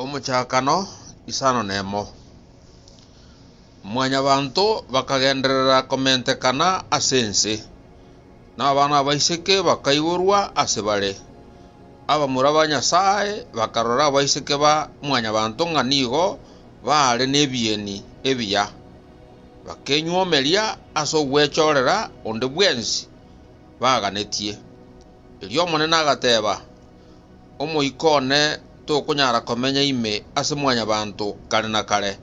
Omochakano, isano nemo. Mwanyabanto bakagenderera komentekana ase ense, na abana abaiseke bakaiborwa ase bare. Abamura ba Nyasae bakarora abaiseke ba mwanyabanto ng'a nigo baare nebieni ebiya, bakenyuomeria ase ogwechorera onde bwensi baaganetie. Erio Omonene agateeba, Omoika one tokonyara komenya ime ase mwanyabanto kare na kare,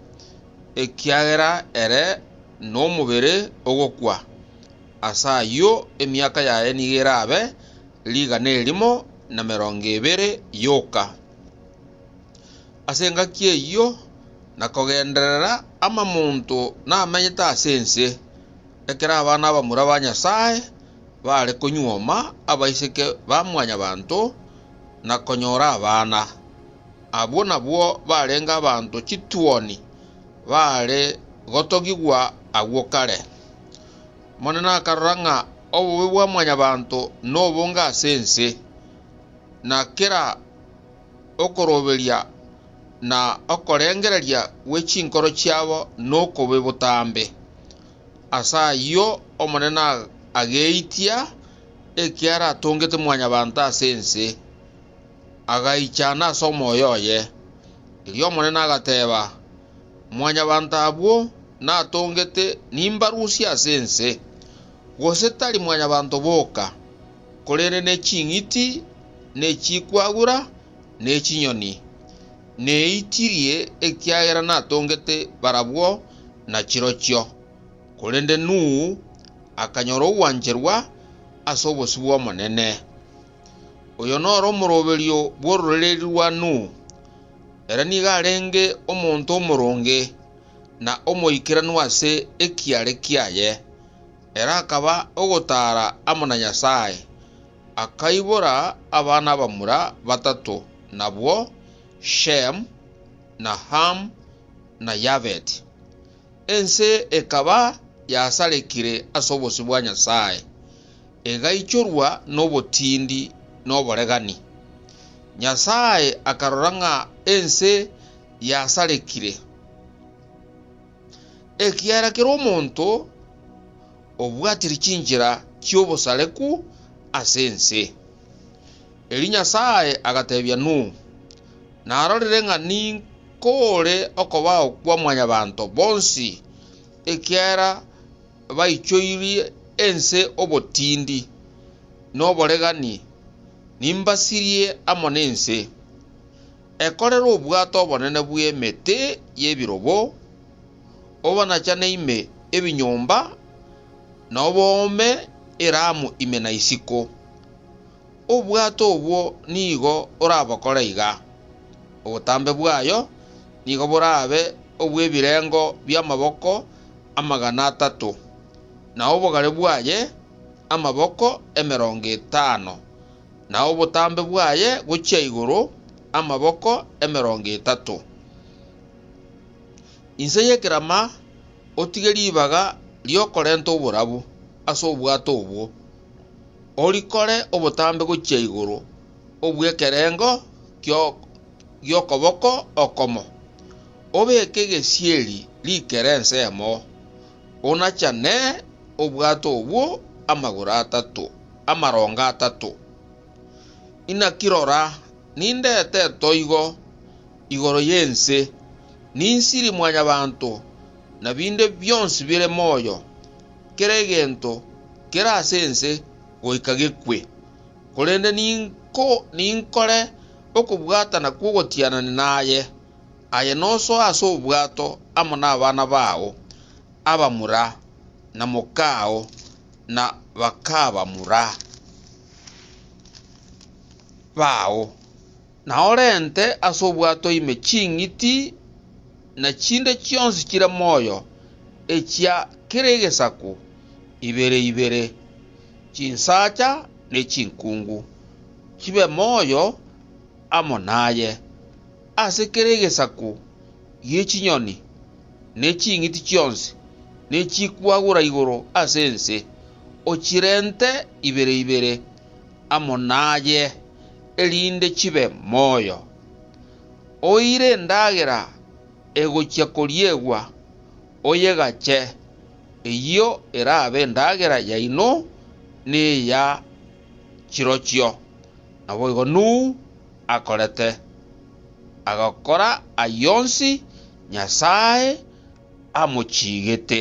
ekiagera ere nomobere ogokwa. Ase ayio emiaka yaye nigo erabe rigana erimo na merongo ebere yoka. Ase engaki eyio nakogenderera amamonto namenyete ase ense, ekero abana abamura ba Nyasae baare konyuoma abaiseke ba mwanyabanto na konyora abana. Abwo nabwo barenge abanto chituoni baare gotogigwa agwo kare. Omonene akarora ng'a obobe bwa mwanyabanto nobonge ase ense, na kera okoroberia na okorengereria gwe chinkoro chiabo nokobe botambe. Ase ayio Omonene ageitia eki aratongete mwanyabanto ase ense, agaichana ase omoyo oye. Erio Omonene agateeba, Mwanyabanto abwo natongete nimbarusie ase ense, gose tari mwanyabanto boka, korende ne ching'iti, ne chikwagura, ne chinyoni. neitirie, ekiagera natongete barabwo na chirochio. Korende Nuhu akanyora ogwancherwa ase obosio bw'Omonene. Oyo nore omoroberio bw'ororeria rwa Nuhu. Ere nigo arenge omonto omoronge, na omoikeranu ase ekiare kiaye, ere akaba ogotaara amo na Nyasae. akaibora abana abamura batato, nabwo Shemu, na Hamu, na Yafeti. Ense ekaba yasarekire ase obosio bwa Nyasae, egaichorwa nobotindi na oboregani. Nyasae akarora ng'a ense yasarekire. ekiagera kera omonto obwatire chinchera chi'obosareku ase ense. Erio Nyasae agatebia Nuhu, Narorire ng'a ninkore okobao kwa mwanyabanto bonsi, ekiagera baichoirie ense obotindi na oboregani, nimbasirie amo nense. Ekorere obwato obonene bw'emete y'ebirobo, obonachane ime ebinyomba, na oboome eramu ime na isiko. Obwato obwo nigo orabokore iga, Obotambe bwayo nigo borabe obw'ebirengo bi'amaboko amagana atato, na obogare bwaye amaboko emerongo etano, na obotambe bwaye gochia igoro amaboko emerongo etato. Inse y'ekerama otige ribaga ri'okorenta oborabu ase obwato obwo, orikore obotambe gochia igoro obw'ekerengo gi'okoboko okomo, obeke egesieri rikere ensemo. Onachane obwato obwo amagoro atato, amarongo atato. Inaki rora, ninde eteto igo igoro y'ense, ninsiri Mwanyabaanto, na binde bionsi bire moyo, kera egento kere ase ense goika gekwe. Korende ninkore okobwatana kw'ogotianania naye. Aye nosoe ase obwato amo nabana bao abamura na mokao na bakabamura bao, na orente ase obwato ime ching'iti na chinde chionsi chire moyo echia kera egesaku ibere ibere, chinsacha ne chinkungu, chibe moyo amo naye. Ase kera egesaku gie chinyoni, ne ching'iti chionsi, ne chikwagura igoro ase ense, ochirente ibere ibere amo naye, erinde chibe moyo. Oire endagera egochia koriegwa, oyegache, eyio erabe endagera yaino ne eya chirochio. Naboigo Nuhu akorete, agakora ay'onsi Nyasae amochiigete.